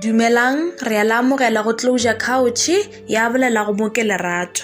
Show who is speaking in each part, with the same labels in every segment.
Speaker 1: Dumelang, re a le amogela go Closure Couch, ya bolela go mo ke lerato.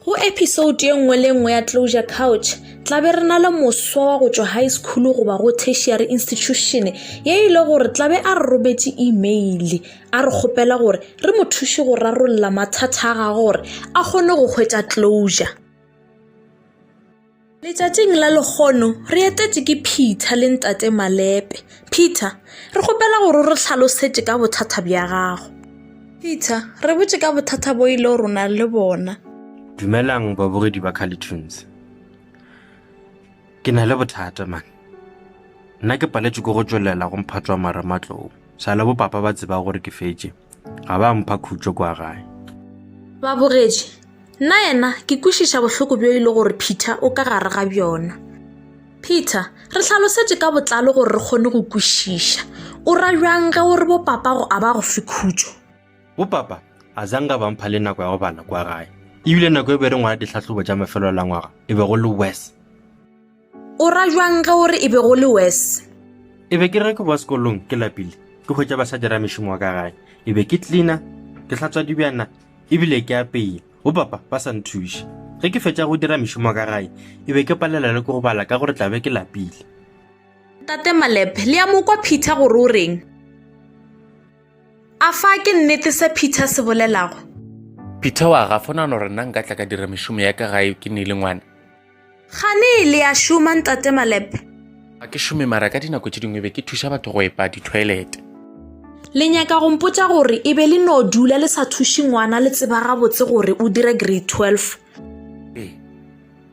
Speaker 1: Go episode ye nngwe le nngwe ya Closure Couch, tla be re na le moswa wa go tšwa high school goba go tertiary institution ye e le gore tla be a re rometše email a re kgopela gore re mo thuše go rarolla mathata a gagwe gore a kgone go hwetša closure. Letšatšing la lekgono re etetše ke Peter le ntate Malepe. Peter, re kgopela gore re hlalosetše ka bothata bja gago. Peter, re botše ka bothata bo ile gore o na le bona. Dumelang
Speaker 2: babogedi ba Carlitons. Ke na le bothata man. Nna ke paletše ke go tšwelela go mphatšwa mara matlou. Sa le bo papa ba tseba gore ke fetše. ga ba mpha khutšo kwa gae ba
Speaker 1: bogetše nna yena ke kwešiša bohloko bjo e le gore peter o ka gare ga bjona peter re hlalosetše ka botlalo gore re kgone go kwešiša o ra bjang ge o re bopapago a ba go fe khutšo bopapa
Speaker 2: a zanga ba mpha le nako ya go bala kwa gae ebile nako e be re ngwala ditlhahlobo tša mafelelo la ngwaga e be go le wes
Speaker 1: o ra jwang ge o re e be go le wes e be ke re
Speaker 2: ke boa sekolong ke lapile ke hwetša ba sa dira mešomo wa ka gae e be ke cleaner ke hlatswa dibjana ebile ke apeye bo papa ba sa nthuše ge ke fetša go dira mešomo wa ka gae e be ke palela le ke go bala ka gore tlabe ke lapile tate
Speaker 1: malep le ya mokwa peter gore o reng a fa ke nnete se peter se bolelago peter wa
Speaker 3: gafona no re nna nka tla ka dira mešomo ya ka gae ke ne e le ngwana Gane
Speaker 1: le a šoma ntate Malepe? Ga ke šome
Speaker 3: mara ka dinako tše dingwe be ke thuša batho go epa dithoelete. Le
Speaker 1: nyaka go mpotša gore e be le no dula le sa thuše ngwana le tseba gabotse gore o dira grade 12? Ee,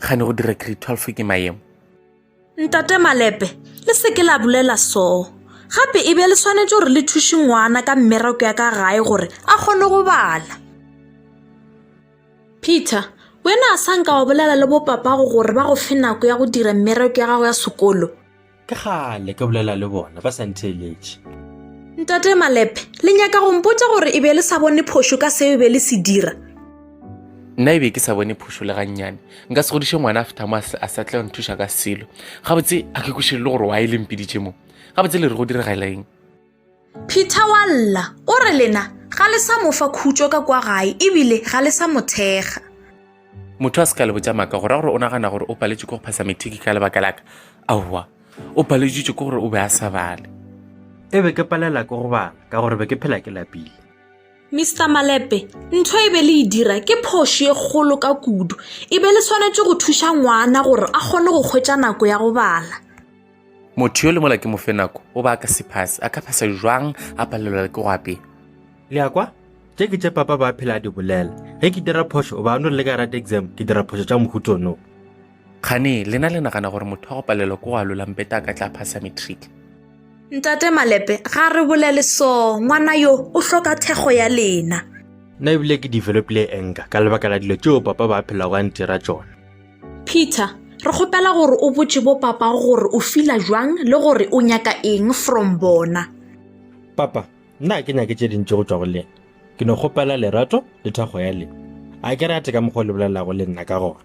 Speaker 3: gane go dira grade 12 ke maemo. Ntate
Speaker 1: Malepe, le se ke la bolela soo. Gape e be le swanetše gore le thuše ngwana ka mmereko ya ka gae gore a kgone go bala. Peter, wena a sa nka wa bolela le bopapago gore ba go fe nako ya go dira mmereko ya gago ya sekolo? Ke kgale
Speaker 2: ke bolela le bona ba sa ntheeletše. Ntate
Speaker 1: Malepe, le nyaka go mpotša gore e be le sa bone phošo ka seo e be le se dira?
Speaker 3: nna e be ke sa bone phošo le gannyane nka se godiše ngwana after mo a sa tla nthuša ka selo gabotse a ke kweše le gore wa e lempeditše mo gabotse le re go diragalang Peter
Speaker 1: wa lla o re lena ga le sa mo fa khutšo ka kwa gae ebile ga le sa mo thekga.
Speaker 3: Motho a se ka le botša maka go ra gore o nagana gore o paletše ke go phasa methiki ka lebaka laka. Aowa, o paleditšwe ke gore o be a sa bale. E be ke
Speaker 2: palela ke go bala ka gore be ke phela ke lapile. Mister
Speaker 1: Malepe, ntho e be le e dira ke phoši e kgolo ka kudu. E be le swanetše go thuša ngwana gore a kgone go hwetša nako ya go bala. motho
Speaker 3: yo le mola ke mofe nako o ba a ka sephase a ka phasa jwang a palelwa le ke go apea le ya kwa
Speaker 2: tše ke tše papa ba phela a di bolela ge ke dira phošo o ba no le ka rate exam ke dira phošo tša mohutsono kgane
Speaker 3: lena le nagana gore motho wa go palelwa ke go alolampeta a ka tla phasa matric ntate
Speaker 1: malepe ga re bolele so ngwana yo o hloka thekgo ya lena nna ebile ke
Speaker 2: developile enka ka lebaka la dilo tšeo papa ba phelago a ntira tsona peter
Speaker 1: re kgopela gore o botše bo papago gore o fila jwang le gore o nyaka eng from bona papa
Speaker 2: nna a ke nyake tše dintši go tšwa go lena ke no kgopela lerato le thakgo ya le a ke rate ka mokgwa o le bolelago le nna ka gona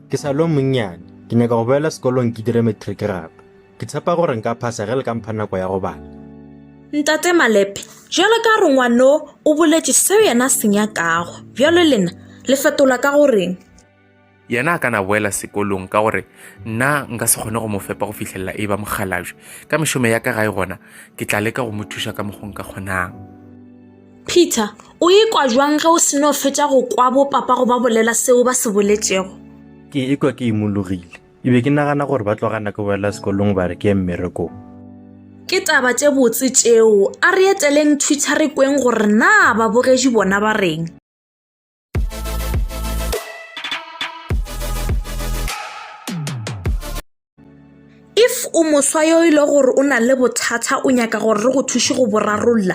Speaker 2: ke sa lo monnyane ke nyaka go boela sekolong ke dire matric gape Ke tshepa gore nka phasa ge le ka mpha nako ya go bala. Ntate
Speaker 1: Malepe, bjalo ka gore ngwano o boletše seo yena a se nyakago, bjalo lena le fetola ka go reng? yena
Speaker 3: a ka na boela sekolong ka gore nna nka se kgone go mo fepa go fihlelela e ba mokgalabje ka mešomo ya ka gae gona ke tla leka go mo thuša ka mokgong ka kgonang
Speaker 1: peter o ikwa jwang ge o seno fetša go kwa bopapa go ba bolela seo ba se boletšego ke ikwa ke
Speaker 2: imologile Ke be ke nagana gore ba tlogana ke boela sekolong ba re ke ye mmerekong. Ke
Speaker 1: taba tše botse tšeo. A re eteleng Twitter re kweng gore na babogedi bona ba reng. If o moswa yo e le gore o na le bothata o nyaka gore re go thuše go bo rarolla,